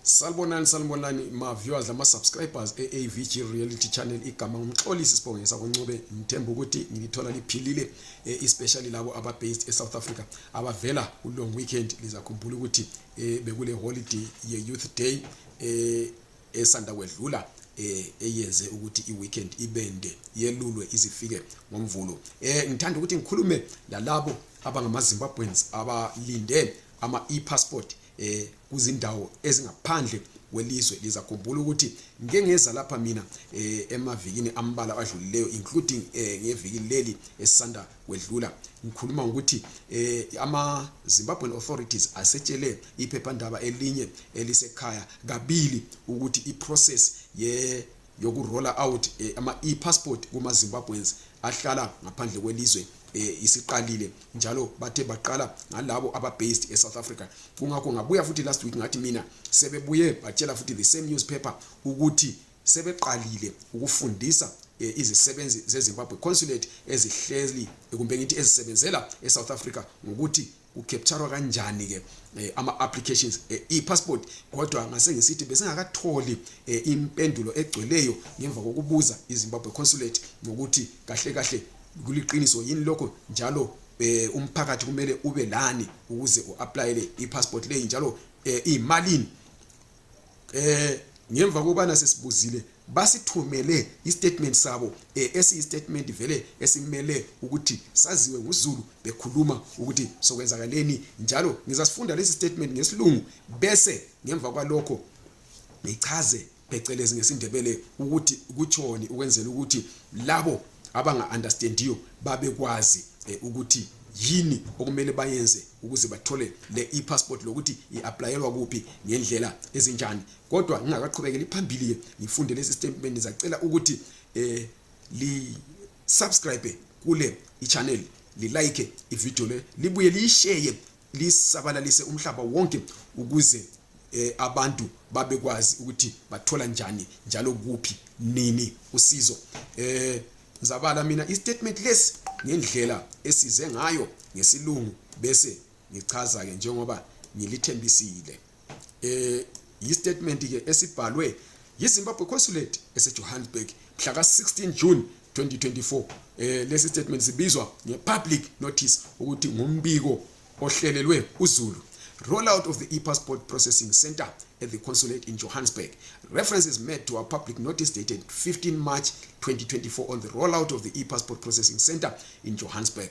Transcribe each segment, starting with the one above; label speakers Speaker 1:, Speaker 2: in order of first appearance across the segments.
Speaker 1: salibonani salibonani ma-viewers lama-subscribers e-avg reality channel igama ngumxolisi sibongisa kuncube ngithemba ukuthi ngilithola liphilile e, especially labo aba-based e-south africa abavela ku-long weekend lizakhumbula ukuthi e, bekule holiday ye-youth day e, esanda kwedlula eh eyenze ukuthi iweekend ibende yelulwe izifike ngomvulo eh ngithanda ukuthi ngikhulume lalabo abangamaZimbabweans abalinde ama e-passport eh kuzindawo ezingaphandle kwelizwe lizakhumbula ukuthi ngike ngeza lapha mina eh, emavikini ambala adlulileyo including eh, ngeviki leli esisanda kwedlula ngikhuluma ngokuthi eh, ama Zimbabwean authorities asetshele iphephandaba elinye elisekhaya kabili ukuthi iprocess ye yokurola out eh, ama e-passport kuma Zimbabweans ahlala ngaphandle kwelizwe eh, isiqalile njalo bathe baqala ngalabo ababased eSouth Africa kungakho ngabuya futhi last week ngathi mina sebebuye batshela futhi the same newspaper ukuthi sebeqalile ukufundisa Eh, izisebenzi zezimbabwe consulate ezihleli kumbe ngithi ezisebenzela esouth africa ngokuthi kucapturwa kanjani ke eh, ama applications eh, i passport kodwa ngase ngisithi besingakatholi eh, impendulo egcweleyo ngemva kokubuza iZimbabwe consulate ngokuthi kahle kahle kuliqiniso yini lokho njalo eh, umphakathi kumele ube lani ukuze uapplyele ipassport leyi njalo eh, imalini eh ngemva kobana sesibuzile basithumele istatement sabo eh, esiyistatement vele esimele ukuthi saziwe nguzulu bekhuluma ukuthi sokwenzakaleni njalo ngizasifunda lesi statement ngesilungu bese ngemva kwalokho ngichaze phecelezi ngesindebele ukuthi kutshoni ukwenzela ukuthi labo abanga-understandiyo babekwazi eh, ukuthi yini okumele bayenze ukuze bathole le e-passport lokuthi i-aplayelwa kuphi ngendlela ezinjani kodwa ngingakaqhubekeli phambili-ke ngifunde lesi statement ngizacela ukuthi eh li-subscribe kule i-channel lilike ividiyo le libuye liyisheye lisabalalise umhlaba wonke ukuze eh, abantu babekwazi ukuthi bathola njani njalo kuphi nini usizo eh ngizabala mina istatement lesi ngendlela esize ngayo ngesilungu bese ngichaza ke njengoba ngilithembisile eh yistatement ke esibhalwe yiZimbabwe Consulate eseJohannesburg mhla ka-16 June 2024 eh lesi statement sibizwa ngepublic notice ukuthi ngumbiko ohlelelwe uZulu rollout of the e-passport processing center at the consulate in Johannesburg. Reference is made to a public notice dated 15 March 2024 on the rollout of the e-passport processing center in Johannesburg.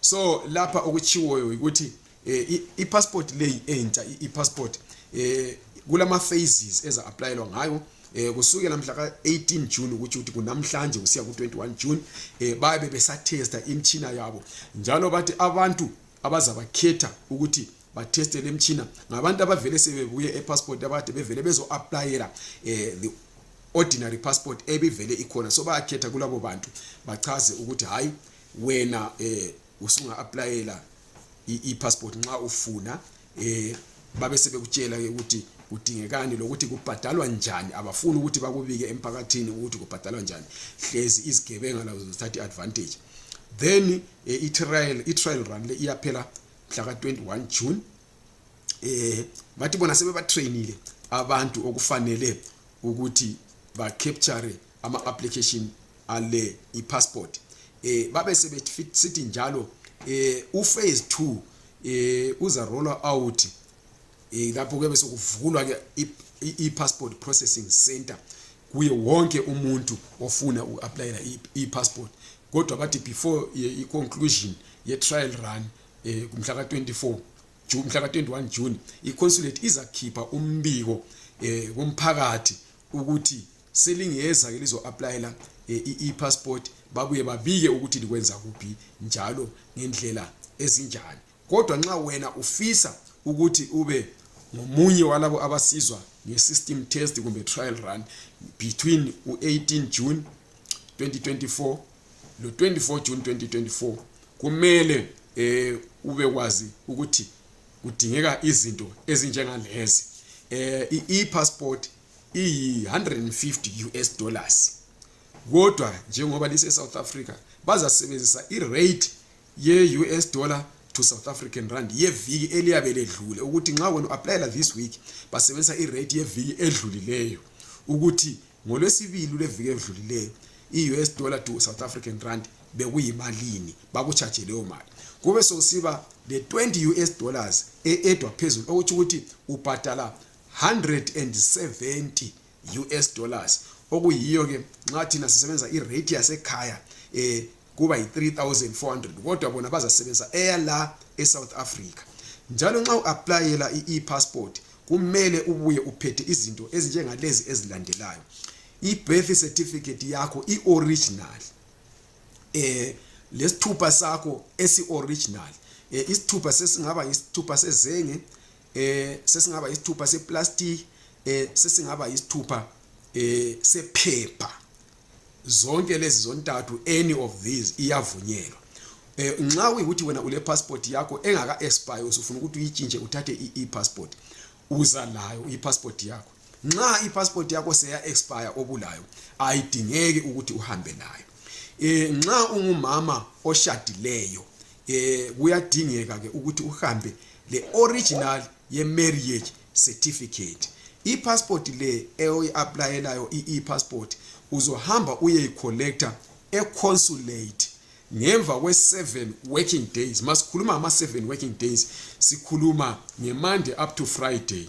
Speaker 1: so lapha okutshiwoyo yikuthi eh, i-passport leyi entsha i-passport eh, kulama-phases eza-aplayelwa ngayo eh, kusukela mhla ka-18 june ukuthi ukuthi kunamhlanje kusiya ku-21 june eh, bayabe besathesta imtshina yabo njalo bathi abantu abazabakhetha ukuthi batheste le mtshina ngabantu abavele sebebuye epassport abade bevele bezo-aplayela eh, the ordinary passport ebivele ikhona so bayakhetha kulabo bantu bachaze ukuthi hhayi wena eh usunga applyela i-passport nxa ufuna eh babe sebekutshela ke ukuthi kudingekani lokuthi kubhadalwa njani abafuni ukuthi bakubike emphakathini ukuthi kubhadalwa njani hlezi izigebenga lazo zithatha i-advantage then eh, i-trial i-trial run le iyaphela mhla ka-21 june eh bathi bona sebebatrainile abantu okufanele ukuthi ba-capture ama application ale i passport eh babe sebesithi njalo eh u phase 2 eh uza roller out eh lapho kube sokuvulwa ke i passport processing center kuye wonke umuntu ofuna u applyela i passport kodwa bathi before eh, i conclusion ye trial run eh kumhla ka 24 June mhla ka 21 June i consulate izakhipha umbiko eh kumphakathi ukuthi selingeza ke lizo-aplayela eh, i-passport babuye babike ukuthi likwenza kuphi njalo ngendlela ezinjani kodwa nxa wena ufisa ukuthi ube ngomunye walabo abasizwa nge-system test kumbe trial run between u-18 june 2024 lo-24 june 2024 kumele um eh, ube kwazi ukuthi kudingeka izinto ezinjengalezi um eh, i-e-passport iyi 150 US dollars kodwa njengoba lise South Africa bazasebenzisa i rate ye US dollar to South African rand yeviki eliyabe ledlule ukuthi nxa wena applyela this week basebenzisa i rate yeviki edlulileyo ukuthi ngolwesibili lweviki edlulileyo i US dollar to South African rand bekuyimalini bakuchaje leyo mali kube sokusiba le 20 US dollars eedwa phezulu okuthi ukuthi ubhadala 170 US dollars okuyiyo ke nxa thina sisebenza irate yasekhaya eh kuba yi-3400 kodwa bona bazasebenza eyala esouth africa njalo nxa u-aplayela i-e-passport kumele ubuye uphethe izinto ezinjengalezi ezilandelayo i-birth certificate yakho i-original eh lesithupha sakho esi-original eh isithupha sesingaba isithupha sezenge eh sesingaba isithupha seplastic eh sesingaba isithupha eh sephepha zonke lezi zontathu any of these iyavunyelwa eh nxa uyikuthi wena ule passport yakho engaka expire usufuna ukuthi uyitshintshe uthathe i passport uza layo i passport yakho nxa i passport yakho seya expire obulayo ayidingeki ukuthi uhambe nayo eh nxa ungumama oshadileyo eh kuyadingeka ke ukuthi uhambe le original ye marriage certificate ipassport le eoyi-aplayelayo i-e-passport uzohamba uyeyicollector econsulate ngemva kwe-seven working days masikhuluma ngama-seven working days sikhuluma ngemande up to friday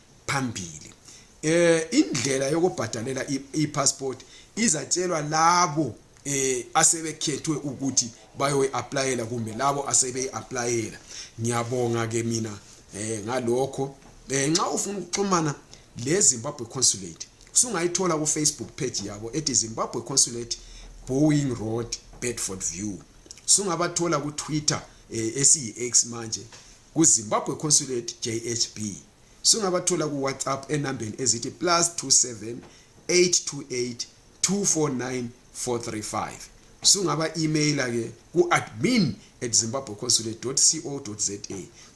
Speaker 1: phambili eh indlela yokubhadalela i-passport izatshelwa labo eh asebekhethwe ukuthi bayoyi applyela kumbe labo asebeyi applyela ngiyabonga ke mina eh ngalokho eh nxa ufuna ukuxhumana le Zimbabwe Consulate usungayithola ku Facebook page yabo ethi Zimbabwe Consulate Boeing Road Bedford View sungabathola ku Twitter eh, esiyi X manje Ku-Zimbabwe Consulate JHB sungabathola ku-WhatsApp enambeni ezithi plus 27 828 249 435 sungaba-imeyila ke ku-admin at zimbabwe consulate co za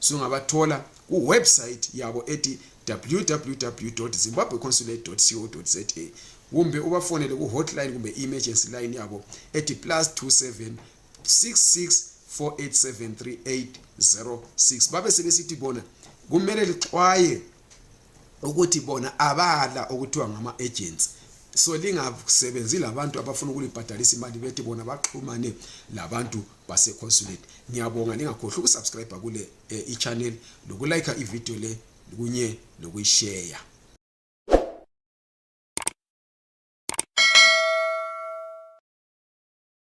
Speaker 1: sungabathola kuwebsayithi yabo ethi www zimbabwe consulate co za kumbe ubafonele ku-hotline kumbe i-emergency line yabo ethi plus 27 66487386 babe sebesithi bona kumele lixwaye ukuthi bona abala okuthiwa ngama agents so lingasebenzi labantu abafuna ukulibhadalisa imali bethi bona baxhumane labantu baseconsulate ngiyabonga lingakhohlwa ukusubscribe kule eh, ichannel lokulike ivideo le kunye nokuyisheya